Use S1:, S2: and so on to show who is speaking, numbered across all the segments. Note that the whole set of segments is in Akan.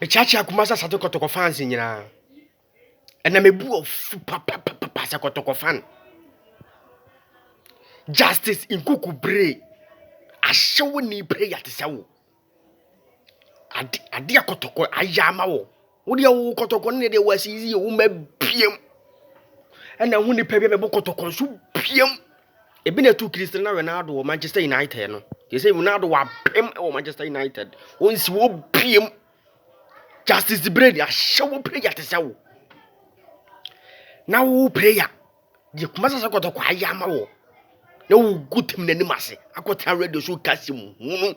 S1: Mekyeakyea Kumasi Asate Kɔtɔkɔ fans nyinaa. Ɛna mebu ɔfu papapapa sɛ Kɔtɔkɔ fan. Justice Nkuku Bere ahyɛwo ni prayer te sɛ wo. Ade ade a Kɔtɔkɔ ayɛ ama wo. Wo deɛ wo Kɔtɔkɔ no deɛ wɔ asisi yɛ wo ma biam. Ɛna ho nipa bi a mɛbɔ Kɔtɔkɔ nso biam. Ebi na ɛtu Cristiano Ronaldo wɔ Manchester United no. Yɛ sɛ Ronaldo wabem wɔ Manchester United. Wɔnsi wɔ biem. Justice Brady ahyɛ wo prayer te sɛ wo. Na wo prayer deɛ kuma sɛ sɛ kɔtɔkɔ ayɛ ama wɔ. Na wo gu tem n'anim ase akɔtena radio so kasi mu hunu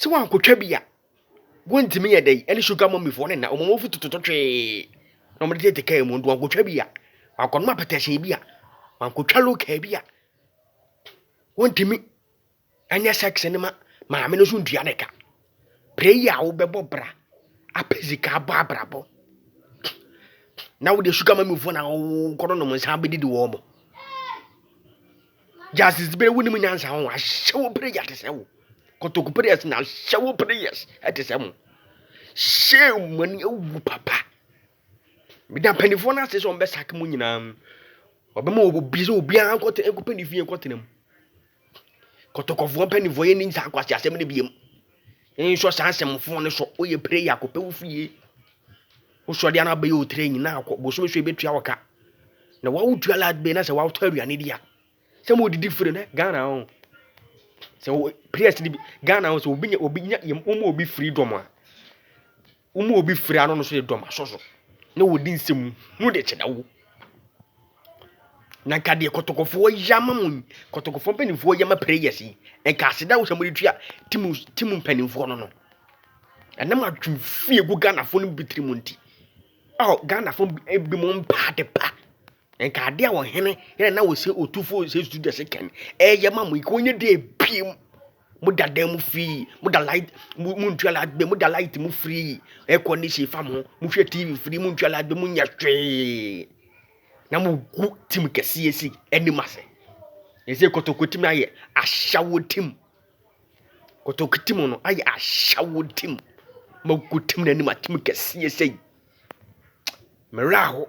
S1: Sɛ wɔankɔtwa bi a, wɔntumi yɛ dɛn? Ɛne sugar mummy foɔ no nna, wɔn afu tototo twee na wɔde tete kaa mu nti wɔankɔtwa bi a, wɔankɔnom apɛtɛsee bi a, wɔankɔtwa local bi a, wɔntumi nyɛ sex no ma maame no nso ntua ne ka. Prayer a wobɛbɔ bra apɛ sika abɔ abrabɔ na wode sugar mummy foɔ na wɔkɔnonom nsa bɛdidi wɔn mo. Justice bere wo nim nyansa ho ahyɛ wo prayers te sɛ wo. Kotoku prayers na ahyɛ wo prayers te sɛ mo. Shame mo ani awu papa. Meda mpanimfoɔ no ase sɛ wɔn bɛsake mo nyinaa. Wɔbɛma obi sɛ obiara nkɔte nkɔpɛ ne fie nkɔtena mu. Kotokɔfoɔ mpanimfoɔ yɛ ne saa akwasi asɛm no biem. Nsɔ saa asɛmfoɔ no so. Woyɛ prayer kɔpɛ wo fie. Wosɔ deɛ na abɛyɛ otire nyina akɔ bosome so ebetua wo ka na wawo tua lat bɛyi na sɛ wawo tɔ aduane di a sɛ mo didi firi ne Ghana ho sɛ wo players di Ghana ho sɛ obi nya obi nya yɛm wɔn obi firi dɔm a wɔn obi firi ano no so yɛ dɔm asɔ so na wɔdi nsɛm mu de kyerɛ wo. Na nka deɛ kɔtɔkɔfoɔ yɛ ama mo yi kɔtɔkɔfoɔ mpanimfoɔ yɛ ama prayers yi nka aseda wosɛ mode tua tim tim mpanimfoɔ no no ɛnam adwene fie gu ghanafoɔ no bi tiri mu nti oh ghanafoɔ bi mo mpa ade pa nka ade a wɔhene yɛ na wɔsɛ ɔtufoɔ sɛ sudase kɛn ɛyɛ ma mo yi ka ɔnyɛ deɛ biem Mo da dan mu free, mo da light, mo mo ntua light bill, mo da light mu free, air condition fa mo, mo hwɛ TV free, mo ntua light bill, mo nyɛ hwee. Na mo gu tim kɛseɛ si anim ase. Ɛsɛ kotoko tim ayɛ ahyɛwo tim. Kotoko tim no ayɛ ahyɛwo tim. Mo gu tim n'anim atim kɛseɛ sɛyi. Mmerɛ aho.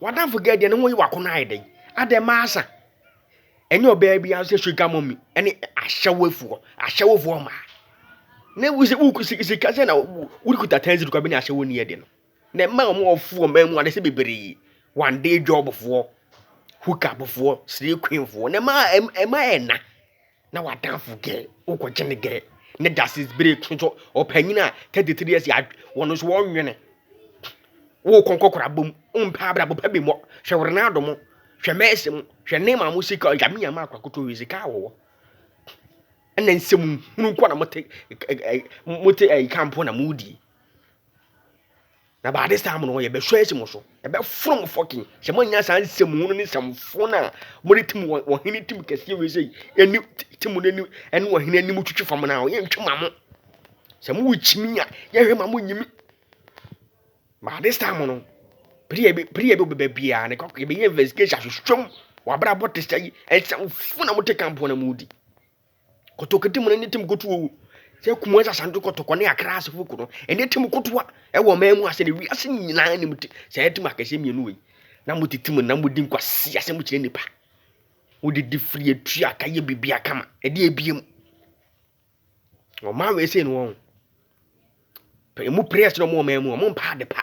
S1: W'adamfo girl deɛ ne ho yi w'ako no ayɛ dɛn? Adɛn ma asa? Ɛnyɛ ɔbaa bi ara sɛ sugar mommy ɛne ahyɛwofoɔ ahyɛwofoɔ mmaa. Na wo sɛ wo sika sɛ na wokuta tansi kwabi ne ahyɛwo ni ɛde no. Na mmaa a wɔn ɔfoɔ mmaa mu adesɛ bebree one day jobfoɔ hookupfoɔ slay queenfoɔ na mmaa mmaa ɛna. na w'adamfo gɛɛ, wokɔgye no gɛɛ, ne dasesi bere to nso ɔpanyin a thirty three years yɛ wɔn nso wɔnwene wokɔ nkɔkora bom mpɛ abrabɔ pɛ bi mmɔ hwɛ wɔ renado mo hwɛ mɛɛsi mo hwɛ ne maa mo sika ɔyame yɛ maa akora koto wɔ sika wɔwɔ ɛna nsɛm hunu nkɔ na mo te mo te ɛyi kampo na mo die. Na by this time no yɛbɛhwɛ asi mo so yɛbɛforo mo fɔkin sɛ moanya saa nsɛm hunu ne nsɛmfoɔ no a mode tim wɔhene tim kɛseɛ wei sɛ ɛni tim no anim ɛne wɔhene anim twitwi fam no a yɛntwe ma mo sɛ mowɔ kyimi a yɛhwɛ ma mo nyimi by this time no pere yɛ pere yɛ bɛbɛ biara ne kɔkɔ yɛbɛyɛ investigation ahwehwɛ mu wɔabrabɔ te sɛ yi nsɛmfoɔ na mote kampoɔ na modi Kotokodi mu no ne tim kotoɔ wɔ sɛ Kumasi Asante Kɔtɔkɔ ne Accra Asefoko no ɛne tim kotoa ɛwɔ ɔman mu asɛ na wiase nyinaa nim ti saa tim akɛseɛ mmienu wei na mo tete mu na mo di nkwasi asɛm kyerɛ nipa mo de di firi atua aka yɛ bibi akama ɛde ebie mu ɔman wei sɛ no wɔn pɛ emu press no wɔn ɔman mu wɔn mpa ade pa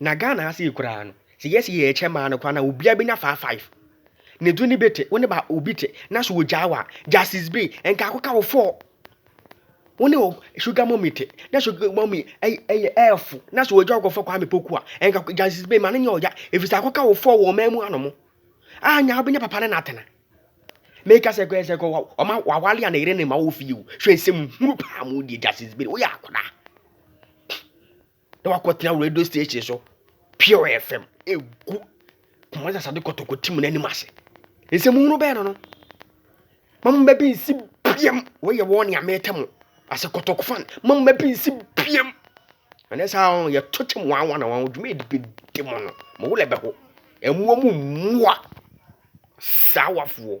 S1: Na Ghana ha sei koraa no, sɛ yɛsi yɛ ɛkyɛ maa no koraa na obiara bɛnya faa five. Ne du ne bi te, wo ne ba obi te, na so ogyaa wa, Justice Bey, nka akɔka wo four. Wo ne sugar mommy te, na sugar mommy ɛyɛ ɛɛfo, na so ogya ɔkɔfa Kwame Poku a, nka Justice Bey ma no nyɛ ɔya, efisɛ akɔka wo four wɔ ɔman mu anom. A nya wobɛnya papa ne n'atena. Meka sɛ kɔɛ sɛ kɔ wa, ɔma wawale a ne yere ne ma wɔ fie o. Hwɛ nsɛm hunu paa mu deɛ Justice Bey, woyɛ akwadaa. na wakɔtena radio station so pure fm ɛgu kumase asade kɔtɔkɔ tim no anim ase nsɛm hunu bɛɛ no no mamu bɛ bi nsi biam wɔyɛ wɔn nea mɛtɛ mo ase kɔtɔkɔ fan mamu bɛ bi nsi biam ɛnɛ saa wɔn yɛ to kyɛm wɔn awa na wɔn dwuma yɛ de de mo no mo wulɛ bɛ ho ɛmoa mu mmoa saa wafoɔ